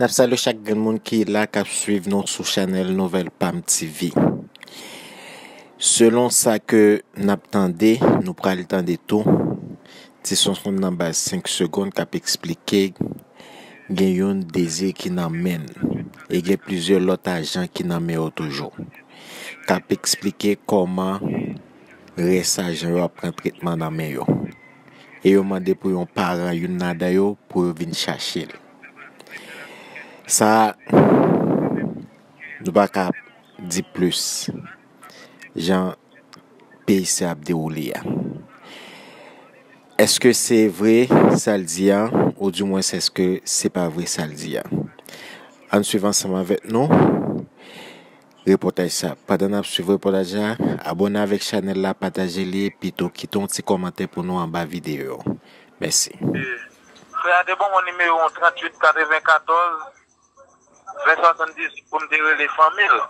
N ap salye chak grenn moun ki la k ap swiv nou sou chanèl Nouvèl Pam TV. Selon sa ke n ap tande, nou pral tande tou ti sonson nan baz 5 segond k ap esplike Gen youn Dezi ki nan men n e gen plizyè lòt ajan ki nan men yo toujou k ap esplike kòman rès ajan yo ap pran tretman nan men yo e yo mande pou yon paran youn ladan yo pou yo vin chache l. Sa a, nou pa ka di plis jan PIC a ap dewoule a. Eske se vre sa l di a ou di mwens eske se pa vre sa l di a? Ann swiv ansanm avèk nou repòtaj sa. Pandan n ap swiv repòtaj la, abòne avèk chanèl la, pataje li epi tou kite yon ti kòmantè pou nou anba videyo. Mèsi. Frè a te ban mwen nimewo 3894. Vè 70 pou m te rele fanmi l.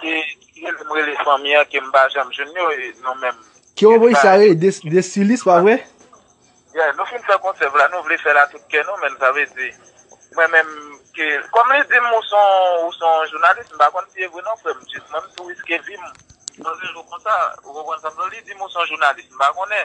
Ki rele m rele fanmi an ke m pa janm jwenn yo e nou menm. Ki yon voice sa ye de Sully se pa vre? Yeah nou fin fè konsè vre la nou vle fèl a tout kè nou menn sa vle di mwen menm ke kòm li dim ou son ou son jounalis m pa konn si e vre non frè m jis mwen m tou riske vi m nan yon jou konsa ou konprann sa m vle di li dim ou son jounalis m pa konnen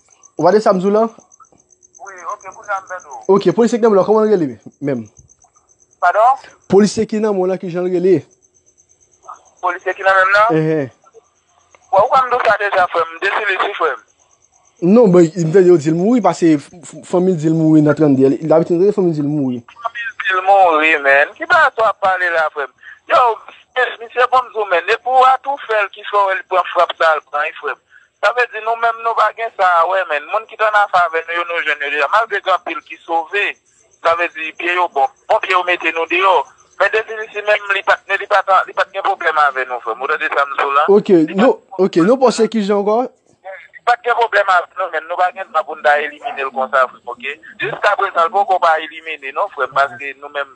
Ou pa de sa m di w lan? Wi, ok, kounye a m vèt ou. Ok, polisye ki nan men w lan, kòman l rele menm? Padon? Polisye ki nan men w lan, ki jan l rele? Polisye ki nan men m lan? Enhen. Bon, ou ka m di w sa deja frè m, m desi li si frè m. Non, bon, m tande yo di l mouri, pase fanmi l di l mouri nan 32. Li abitid rele fanmi l di l mouri. Fanmi l di l mouri, menn. Ki bagay sa w ap pale la frè m? Yow, misye bon m di w menn, depi w atoufè l ki fè w wè li pran frap sa l pran wi frè m. Sa vle di nou menm nou pa gen sa a wè menn. Moun ki t anafè avè nou yo nou jwenn yo deja. Malgre gen anpil ki sove, sa vle di pye yo bon. Bon pye yo mete nou deyò. Men Definisi menm li pat li pat li pat gen pwoblèm avè nou frè m. Ou tande sa m di w la? Ok nou ok nou panse kijan ankò? Li pat gen pwoblèm avè nou menn. Nou pa gen dwa pou n ta elimine l konsa frè m ok. Jiskaprezan l poko pa elimine non frè m paske nou menm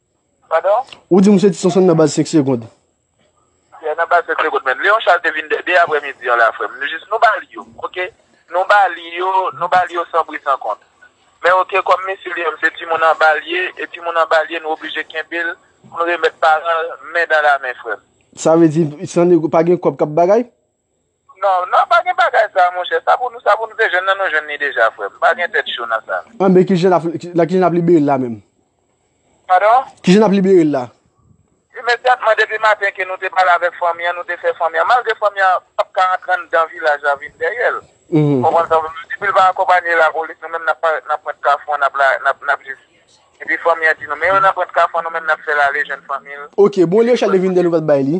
Padon? Ou di msye ti sonson nan baz 5 segond. Yeah nan baz 5 segond menn. Leon Charles te vin 2 aprè midi an la frèm. Nou jis nou ba li yo ok. Nou ba li yo, nou ba li yo san bri san kont. Men ok kòm mesye li menm se timoun anba li ye e timoun anba li ye nou oblije kenbe l pou n remèt paran l men dan la men frèm. Sa vle di san nego pa gen kòb k ap bagay? Non nan pa gen bagay sa monchè sa pou nou sa pou nou te jwenn nan nou jwenn li deja frè m pa gen tèt cho nan sa. Anben kijan nap la kijan nap libere l la menm? Pardon? Kijan nap libere l la? Imedyatman depi maten ke nou te pale avèk fanmi an nou te fè fanmi an malgre fanmi an pap ka antre anndan vilaj la vin dèyè l ou konprann sa m vle di depi l pa akonpanye lapolis nou menm nap parèt nan pwent kafou an nap nap jis epi fanmi an di nou men yo nan pwent kafou an nou menm nap fè l ale jwenn fanmi l. Ok bon lè Charles te vin dèyè l ou pat bay li?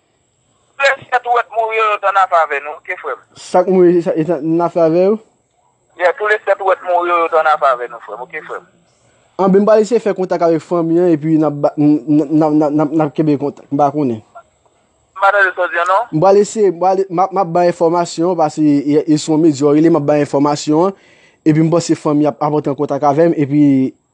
Bless yet ou wet mouri yo yo t an afè avè nou ok frem. Sak mouri yo yo t an afè avè yo. Yet ou le set ou wet mouri yo yo t an afè avè nou frem ok frem. An ben m pa wè si se fè kontak avek fanmi an epi nap kenbe kontak m pa konnen. M pa tande sa w di an non. M pral eseye map bay enfòmasyon an pase yo se yon medya yo rele map bay enfòmasyon an epi m panse fanmi an ap antre an kontak avè m epi.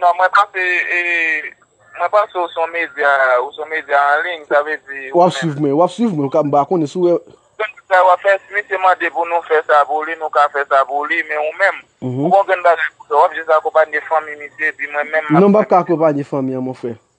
Non mwen panse e mwen panse ou son medya ou son medya an liy sa vle di ou menm. Wap swiv mwen wap swiv mwen m pa konnen si w wè. Grenn bagay wap fè si misye mande pou nou fè sa pou li nou ka fè sa pou li men ou menm ou gon grenn bagay pou fè wap jis akonpanye fanmi misye epi mwen menm map. Non m pap ka akonpanye fanmi an mon frè.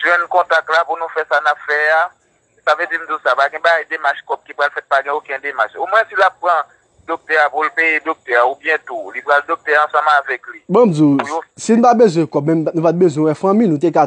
Jwenn kontak la pou nou fè sa nap fè a. Sa vle di m di w sa, pa gen bagay demach kòb ki pral fèt pa gen oken demach. Omwen si lap pran doktè a pou l peye doktè a oubyen tou li pral doktè ansanm avèk li. Bon m di w, si n pa bezwen kòb menm nou pat bezwen wè fanmi nou te ka